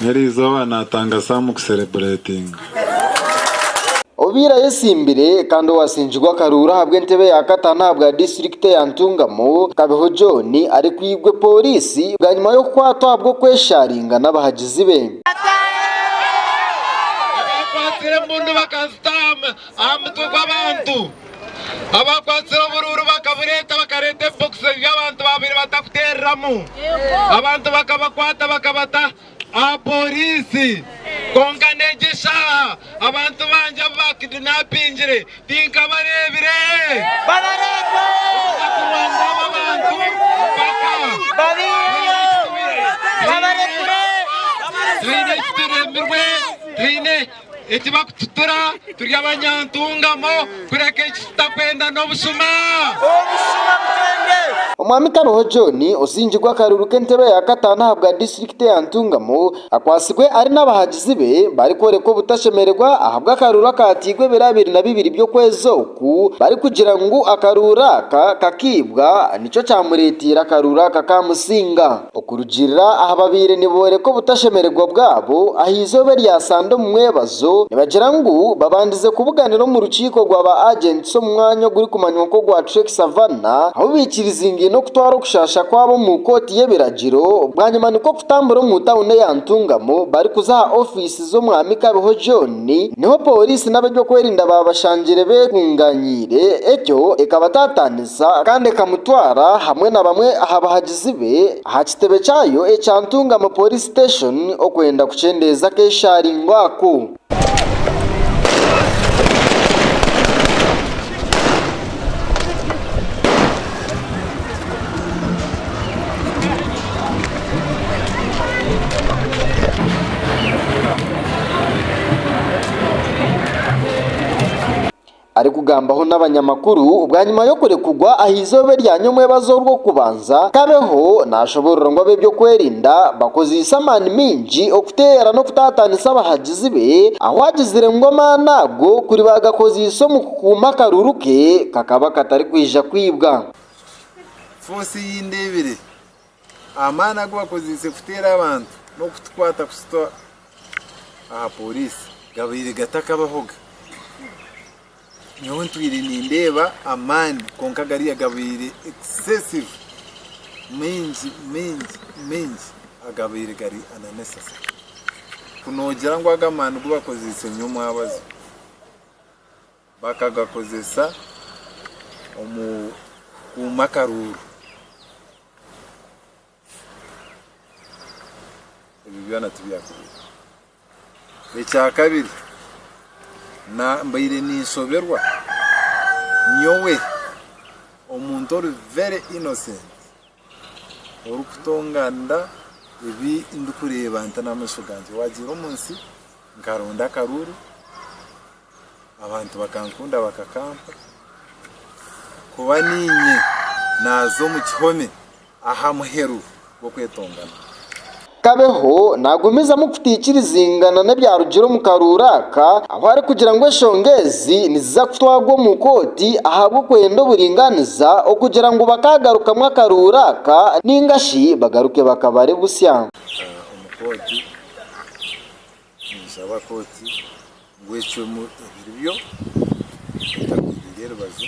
Neri eizooba naatanga saamu kuserebureetinga. Obaire ayesimbire kandi owatsingirwe akaruuru ahabw'entebe ya kataano ahabwa disiturikiti ya Ntungamo, Kabeho John arikwigwe pooriisi bwanyima y'okukwatwa ahabw'okweshaaringa n'abahagizi be. Abaakwatsire oburuuru bakabureeta, bakareeta ebibokisi ebi abantu baabaire batakuteereramu. Abantu bakabakwata bakabata aha pooriisi. Kwonka n'egi eshaaha abantu bangi abu baakidinapingire tinkabareebire. Obunakurwanda aba bantu mpaka taine eki turemirwe, taine Ekibakututura turi abanyantungamo kureka eki tutakwenda n'obushuma. Omwami Kabeho John ozingirwe akaruru k'entebe ya kataano ahabwa disiturikiti ya Ntungamo akwatsirwe ari n'abahagizi be barikworeka obutashemererwa ahabw'akaruru akatairwe ebiro abiri na bibiri by'okwezi oku barikugira ngu akaruru aka kakaibwa nikyo kyamureteire akaruru aka kamusinga. Okurugiirira aha babaire nibooreka obutashemererwa bwabo aha eizooba erya sande omu mwebazo, nibagira ngu babandize kubuganira omu rukiiko rwa ba Agents omu mwanya ogurikumanywa nk'ogwa Trek Savanna ahu baikirizingaine okutwara okushaasha kwabo omu kooti y'ebiragiro bwanyima nikwo kutambura omu tauni eya Ntungamo barikuza aha ofiisi z'omwami Kabeho John niho pooriisi n'abeby'okwerinda baabashangire bekunganyiire ekyo ekabataataaniza ekaamuhurikiza kandi ekamutwara hamwe na bamwe aha bahagizi be aha kitebe kyayo ekya Ntungamo Police Station okwenda kukyendeeza akeshaaringo ako. Arikugambaho n'abanyamakuru bwanyima y'okurekugwa aha izooba erya nyomwebazo orw'okubanza, Kabeho nashoborora ngu ab'ebyokwerinda bakozeise amaani maingi okuteera n'okutataanisa abahagizi be ahu agizire ngu amaani ago kuri bagakozeise omu kukuuma akaruru ke kakaba katarikwija kwibwa. Amaani agu bakozeise kuteera abantu n'okutukwata kututa aha poriisi gabaire gatakabahoga. Nyowe ntwire nindeeba amaani kwonka gariya gabaire excessive, maingi maingi maingi agabaire gari unnecessary. Ku noogira ngu aga amaani gu bakozeise niyo mwabaza. bakagakozesa omu kuuma akaruuru. Ebyo byona tibyakubaire. Ekya kabiri, mbaire ninshoberwa nyowe omuntu ori very innocent orikutonganira ebi ndikureeba nti n'amaisho gangye. Waagiire omu nsi nkaronda akaruuru. Abantu bakankunda bakakampa kuba niinye naaza omu kihome aha muheru gw'okwetongana. Kabeho naagumizamu kutaikirizingana n'ebyarugire omu karuuru aka ahu arikugira ngu enshonga ezi niziza kutwarwa omu kooti ahabw'okwenda oburingaaniza okugira ngu bakaagarukamu akaruuru aka nainga shi bagaruke bakabare busya. Omu kooti. Ninshaba kooti ngu ecwemu ebiribyo etagwirire erubaju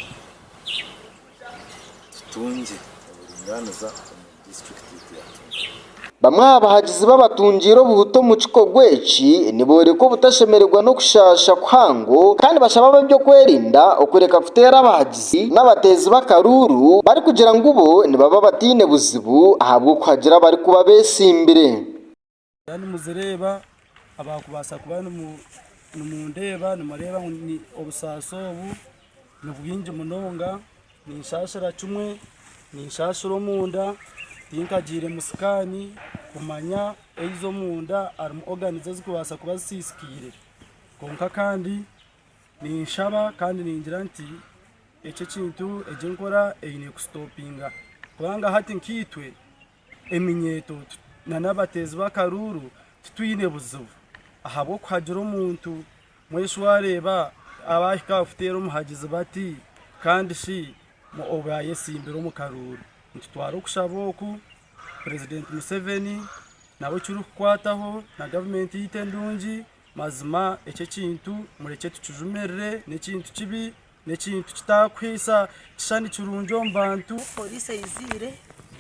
tutungye oburingaaniza omu district yaitu ya Kyengera. Bamwe aha bahagizi b'abatungiire obuhuta omu kikorwa eki nibooreka obutashemererwa n'okushaasha kuhango kandi bashaba ab'eby'okwerinda okureka kuteera abahagizi n'abateezi b'akaruuru barikugira ngu bo nibaba bataine buzibu ahabw'okuhagira abarikuba beetsimbire. Mwaba nimuzireeba abarikubaasa kuba nimundeeba nimureeba ngu obusaasi obu nibwingi munonga ninshaashira kimwe ninshaashira omunda tinkagiiremu sikaani kumanya haza omunda harimu organs ezirikubaasa kuba zisiisikaire kwonka kandi ninshaba kandi ningira nti eki ekintu egi enkora eine kusitopinga kubanga hati nkaitwe eminyeeto n'abateezi b'akaruuru titwine buzibu ahabw'okuhagira omuntu. Mweshu waareeba abaahika aha kuteera omuhagizi bati kandi shi obu yaayetsimbire omu karuuru. Nitutwara okushaba oku Purezidenti Museveni nabo ekirikukwataho na gavumenti yaitu endungi. Mazima ekyo ekintu murekye tukijumirire n'ekintu kibi N'ekintu kitaakuhaisa kishushani kirungi omu bantu. Poliisi eizire,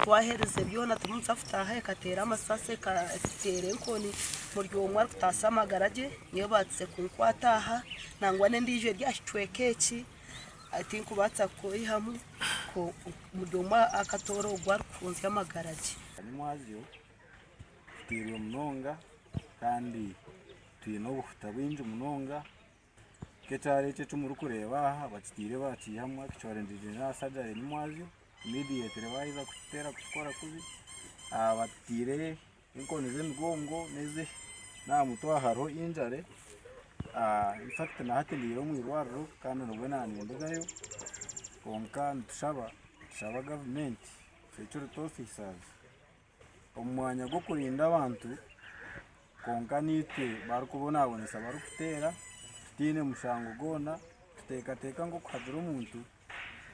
twaherize byona turimu nitutaaha ekateera amasasi ekateera enkoni buri omwe arikutaasa amagara ge. Nyowe baatsize kunkwata aha nangwa n'endiijo eri aha kicweka eki tinkubaasa kukweyihamu kwonka buri omwe akatoora ogu arikuhunzya amagara ge. Kanyamwazyo, Tutairwe munonga kandi twine obuhuta bwingi munonga Nk'ekihare eki eki murikureeba aha bakitiire bakiihamu ekicwendegye na sajaringi mwazyo imidiyetire baaheza kukiteera kukikora kubi. Aha bakitiire enkoni z'emigongo n'ezi n'aha mutwe aha hariho injare. Infakiti na hati ndi omu irwariro kandi nibwo naanindagayo. Kwonka nitushaba, nitushaba gavumenti eturetere ofisazi. Omu mwanya gw'okurinda abantu kwonka naitwe barikubonabonesa abarikuteera tutaine mushango gwona, nituteekateeka ngu okuhagira omuntu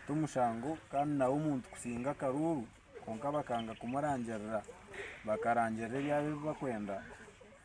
tomushango kandi nawe omuntu kusinga akaruuru kwonka bakanga kumurangirira bakarangirira ebyabo ebi barikwenda